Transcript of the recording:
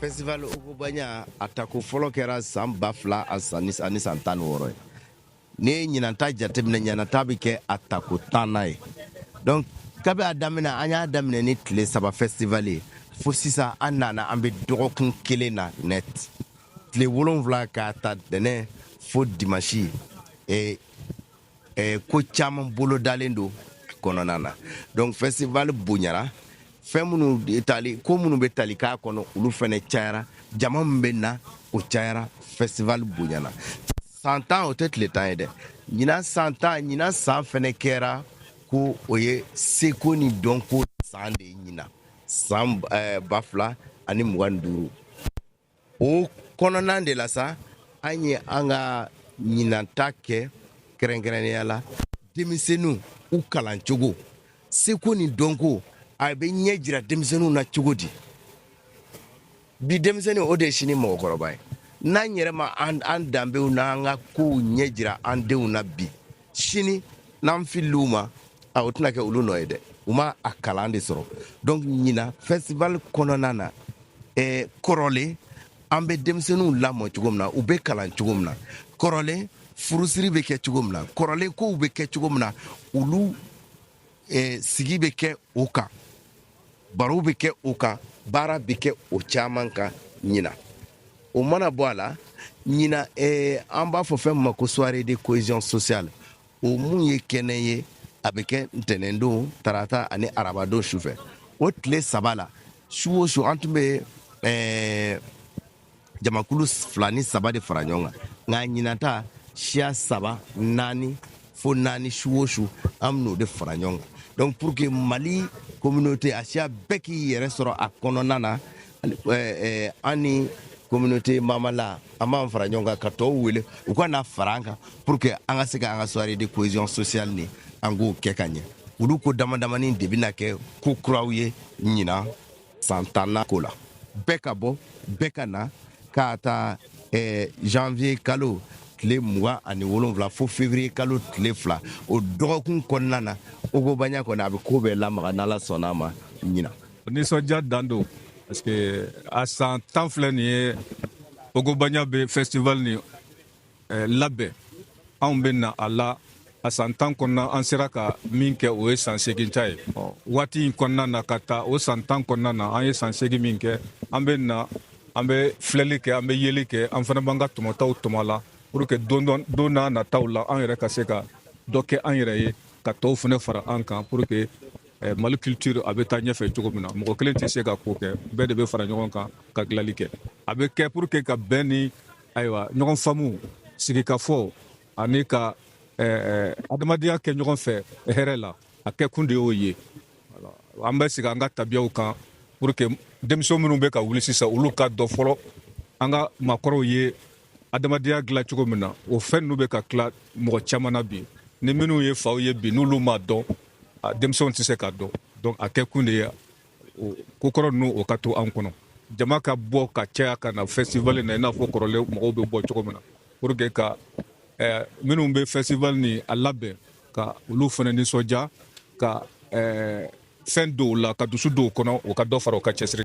festival ogobanya a tako fɔlɔ kɛra san ba fila ani san tan ni wɔɔrɔ ye n'i ye ɲinanta jateminɛ ɲinanta bɛ kɛ a tako tanna ye donc kabi a daminɛ an y'a daminɛ ni tile saba festival ye fo sisan an nana an bɛ dɔgɔkun kelen na net tile wolonwula k'a ta ntɛnɛn fo dimansi e e ko caman bolodalen don kɔnɔna na donc festival bonyara fɛn minnu tali ko minnu bɛ tali k'a kɔnɔ olu fɛnɛ cayara jama min bɛ na o cayara festival bonyana san tan o tɛ tile tan ye dɛ ɲinan san tan ɲinan san fɛnɛ kɛra ko o ye seko ni dɔnko san de ye ɲinan san eh, ba fila ani mugan ni duuru o kɔnɔna de la sa an ye an ka ɲinanta kɛ kɛrɛnkɛrɛnnenya la denmisɛnninw u kalan cogo seko ni dɔnko a bɛ ɲɛ jira denmisɛnninw na cogo di bi denmisɛnnin o de ye sini mɔgɔkɔrɔba ye n'an yɛrɛ ma an danbew n'an ka kow ɲɛ jira an denw na bi sini n'an filila u ma a o tɛna kɛ olu nɔ ye dɛ u ma a kalan de sɔrɔ donc ɲinan festival kɔnɔna na eh, kɔrɔlen an bɛ denmisɛnninw lamɔ cogo min na u bɛ kalan cogo min na kɔrɔlen furusiri bɛ kɛ cogo min na kɔrɔlen kow bɛ kɛ cogo min na olu eh, sigi bɛ kɛ o kan barow bɛ kɛ o kan baara bɛ kɛ o caman kan ɲinan o mana bɔ a la ɲinan eh, an b'a fɔ fɛn min ma ko soirée de cohésion sociale o mun ye kɛnɛ ye a bɛ kɛ ntɛnɛndon tarata ani arabadon sufɛ o tile saba la su o su an tun bɛ eh, jamakulu fila ni saba de fara ɲɔgɔn kan nka ɲinanta siya saba naani fo naani su o su an bɛn'o de fara ɲɔgɔn kan donc pour que mali communauté a siya bɛɛ k'i yɛrɛ sɔrɔ a kɔnɔna na an ni communauté mamala an b'an fara ɲɔgɔn kan ka tɔw wele u ka na fara an kan pour que an ka se ka an ka soirée de cohésion sociale nin an k'o kɛ ka ɲɛ olu ko damadamanin de bɛna kɛ ko kuraw ye ɲinan san tanna ko la bɛɛ ka bɔ bɛɛ ka na k'a ta eh, janvier kalo tile mugan ani wolonfila fo février kalo tile fila o dɔgɔkun kɔnɔna na ogobanya kɔni a bɛ ko bɛɛ lamaga n'ala sɔnna a ma ɲinan nisɔndiya dan don parce que a san tan filɛ nin ye ogobanya bɛ festival ni eh, labɛn anw bɛ na a la a san tan kɔnɔna an sera ka min kɛ o ye san segin ta ye waati in kɔnɔna na ka taa o san tan kɔnɔna na an ye san segin min kɛ an bɛ na an bɛ filɛli kɛ an bɛ yeli kɛ an fana b'an ka tɔmɔtaw tɔmɔ a la pour que don nataw la an yɛrɛ ka se ka dɔ kɛ an yɛrɛ ye ka tɔw fana fara an kan pour que eh, mali culture a bɛ taa ɲɛfɛ cogo min na mɔgɔ kelen tɛ se ka ko kɛ bɛɛ de bɛ fara ɲɔgɔn kan ka dilali kɛ a bɛ kɛ pour que ka bɛn ni ayiwa ɲɔgɔn faamu sigikafɔ ani ka adamadenya kɛ ɲɔgɔn fɛ hɛrɛ la a kɛkun de y'o ye an bɛ sigi an ka tabiyaw kan pour que denmisɛn minnu bɛ ka wuli sisan olu k'a dɔn fɔlɔ an ka maakɔrɔw ye adamadenya dilan cogo min na o fɛn ninnu bɛ ka tila mɔgɔ caman na bi ni minnu ye faw ye bi n'olu m'a dɔn denmisɛnw tɛ se k'a dɔn donc a kɛkun de ye ko kɔrɔ ninnu o ka to an kɔnɔ jama ka bɔ ka caya ka na festival na i n'a fɔ kɔrɔlen mɔgɔw bɛ bɔ cogo min na pour que ka eh, minnu bɛ festival nin a labɛn ka olu fana nisɔndiya ka eh, fɛn don u la ka dusu don u kɔnɔ o ka dɔ fara o ka cɛsiri